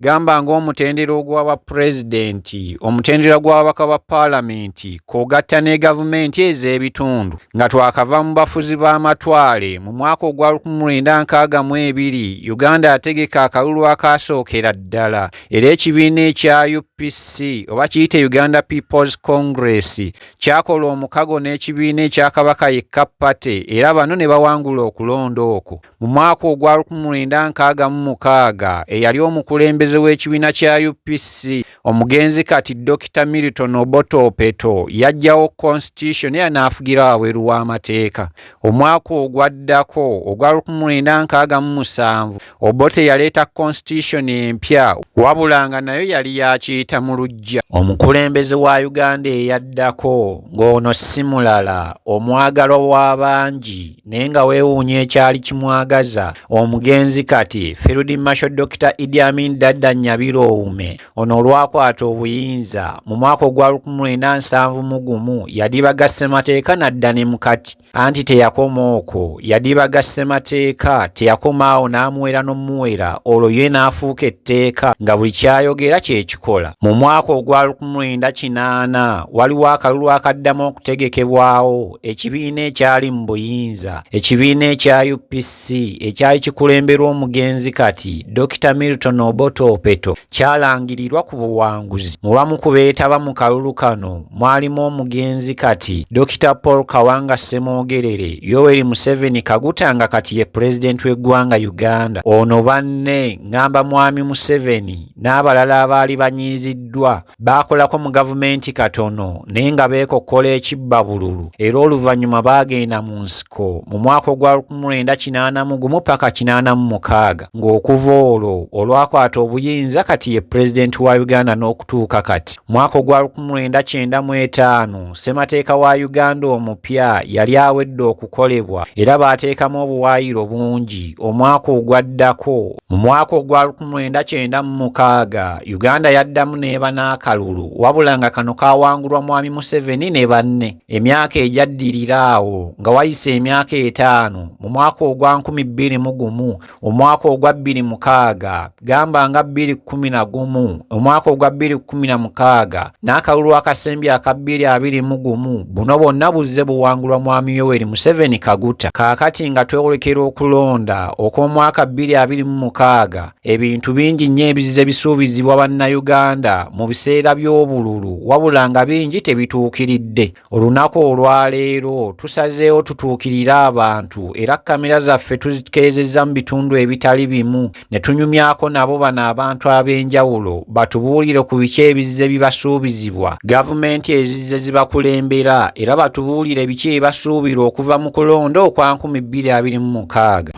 gamba ng'omutendera ogw'aba pulezidenti omutendera gw'ababaka ba paalamenti kwogatta ne gavumenti ez'ebitundu nga twakava mu bafuzi b'amatwale mu mwaka ogwa 1962 uganda ategeka akalulu akaasookera ddala era ekibiina ekya upc oba kiyite uganda peoples congress kyakola omukago n'ekibiina ekya kabaka yekka pate era bano ne bawangula okulonda okwo Mu mwaka ogwa lukumi lwenda nkaaga mu mukaaga eyali omukulembeze w'ekibiina kya UPC omugenzi kati Dokita Milton Obote Opeto yajjawo constitution era n'afugira wabweru w'amateeka. Omwaka ogwaddako ogwa lukumi lwenda nkaaga mu musanvu Obote yaleeta constitution empya wabula nga nayo yali yakiyita mu luggya. Omukulembeze wa Uganda eyaddako ng'ono si mulala omwagalwa w'abangi naye nga weewuunya ekyali kimwagaza omugenzi kati field masho dokita idi amin dadda nyabiro owume ono olwakwata obuyinza mu mwaka ogwa 1970 mu gumu yadibaga ssemateeka nadda ne mukati anti teyakoma okwo yadibaga ssemateeka teyakoma awo n'amuwera n'omuwera olwo ye n'afuuka etteeka nga buli kyayogera kyekikola mu mwaka ogwa 1980 waliwo akalulu akaddamu okutegekebwawo ekibiina ekyali mu buyinza ekibiina ekya upc ekyali kikulemberwa omugenzi kati dr milton oboto opeto kyalangirirwa ku buwanguzi mu bamu ku beetaba mu kalulu kano mwalimu omugenzi kati dr paul kawanga semwogerere yoweri museveni kaguta nga kati ye pulezidenti w'eggwanga uganda ono banne ngamba mwami museveni n'abalala abaali banyiiziddwa baakolako mu gavumenti katono naye nga beekokkola ekibba bululu era oluvannyuma baagenda mu nsiko mu mwaka ogwa 1981 paka 86 ng'okuva olwo olwakwata obuyinza kati ye pulezidenti wa uganda n'okutuuka kati mwaka ogwa 1995 ssemateeka wa uganda omupya yali awedde okukolebwa era baateekamu obuwaayiro bungi omwaka ogwaddako Mu mwaka ogwa lukumwenda kyenda mu mukaaga Uganda yaddamu n'eba n'akalulu wabula nga kano kaawangulwa Mwami Museveni ne banne. Emyaka egyaddirira awo nga wayise emyaka etaano mu mwaka ogwa nkumi bbiri mu gumu, omwaka ogwa bbiri mukaaga, gamba nga bbiri kkumi na gumu, omwaka ogwa bbiri kkumi na mukaaga, n'akalulu akasembi aka bbiri abiri mu gumu buno bwonna buzze buwangulwa mwami yoweri museveni kaguta kaakati nga twewolekera okulonda okw'omwaka bbiri abiri mu mukaaga ebintu bingi nnyo ebizze bisuubizibwa bannayuganda mu biseera by'obululu wabula nga bingi tebituukiridde olunaku olwaleero tusazeewo tutuukirire abantu era kamera zaffe tuzikeezezza mu bitundu ebitali bimu ne tunyumyako nabo bano abantu ab'enjawulo batubuulire ku biki ebizze bibasuubizibwa gavumenti ezizze zibakulembera era batubuulire biki ebibasuubirwa okuva mu kulonda okwa 226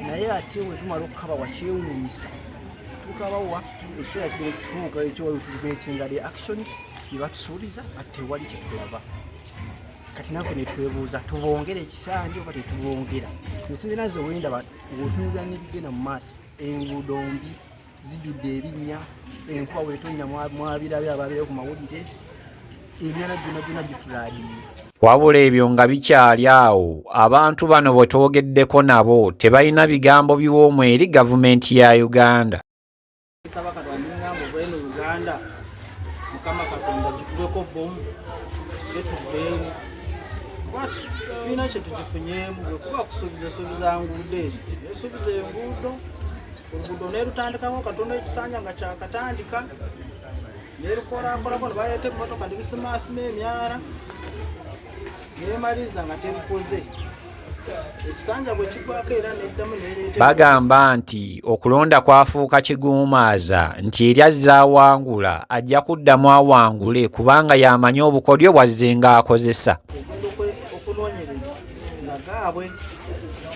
naye ate wetumala okukaba wakyewunyisa tukabawa ekiseera kigere kutuuka ekyowetugetinga the actions byebatusuubiza ati tewali kyetulaba kati nafe netwebuuza tubongera ekisanja oba tetubongera notunze naze wenda otunza nebigenda mu maaso enguudo mbi zijudde ebinnya enkuba wetonya mwabirabe ababeera ku mawulire emyana gyona gyona gifuladiye wabula ebyo nga bikyali awo abantu bano bwe twogeddeko nabo tebalina bigambo biwoomu eri gavumenti ya uganda Saba katonda ngamba obwene Uganda mukama katonda gikubeko bomu tuse tuveemu tulina kyetugifunyeemu bwekuba kusuubiza esuubiza nguudo eri esuubiza enguudo oluguudo nerutandikako katonda ekisanja nga kyakatandika nerukorakorako nebaleeta emotoka nebisimaasima emyara nemaliriza nga terikoze ekisanja bwe kigwako era neddamu nereeta bagamba nti okulonda kwafuuka kiguumaaza nti eri azze awangula ajja kuddamu awangule kubanga yamanyi obukodyo bwazze nga akozesa okunoonyereza nga gaabwe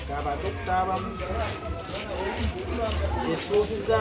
gabantu okutaabamu esuubiza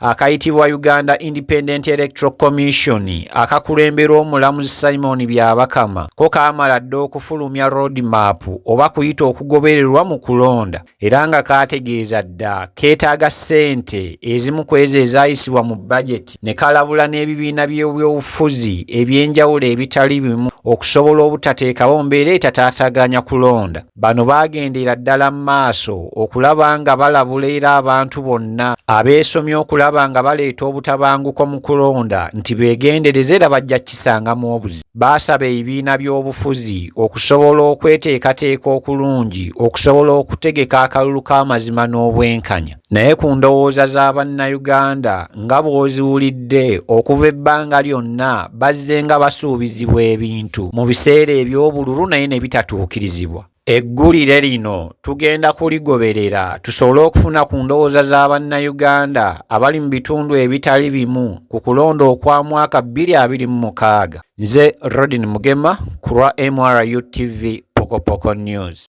akayitibwa uganda independent electoral commission akakulemberwa omulamuzi simon byabakama ko kaamala dda okufulumya road map oba kuyita okugobererwa mu kulonda era nga kaategeeza dda keetaaga ssente ezimu ku ezo ezayisibwa mu bajeti ne kalabula n'ebibiina by'ebyobufuzi eby'enjawulo ebitali bimu okusobola obutateekawo mbeera etataataganya kulonda Bano baagendera ddala mu maaso okulaba nga balabula era abantu bonna abeesomye okulaba nga baleeta obutabanguko mu kulonda nti beegendereze era bajja kukisangamu obuzi. Baasaba ebibiina by'obufuzi okusobola okweteekateeka okulungi okusobola okutegeka akalulu k'amazima n'obwenkanya. Naye ku ndowooza za Bannayuganda nga bw'oziwulidde okuva ebbanga lyonna bazzenga basuubizibwa ebintu mu biseera eby'obululu naye ne bitatuukirizibwa. Eggulire lino tugenda kuligoberera tusobole okufuna ku ndowooza za Bannayuganda abali mu bitundu ebitali bimu ku kulonda okwa mwaka bbiri abiri mu mukaaga. Nze Rodin Mugema ku lwa MRU TV Pokopoko News.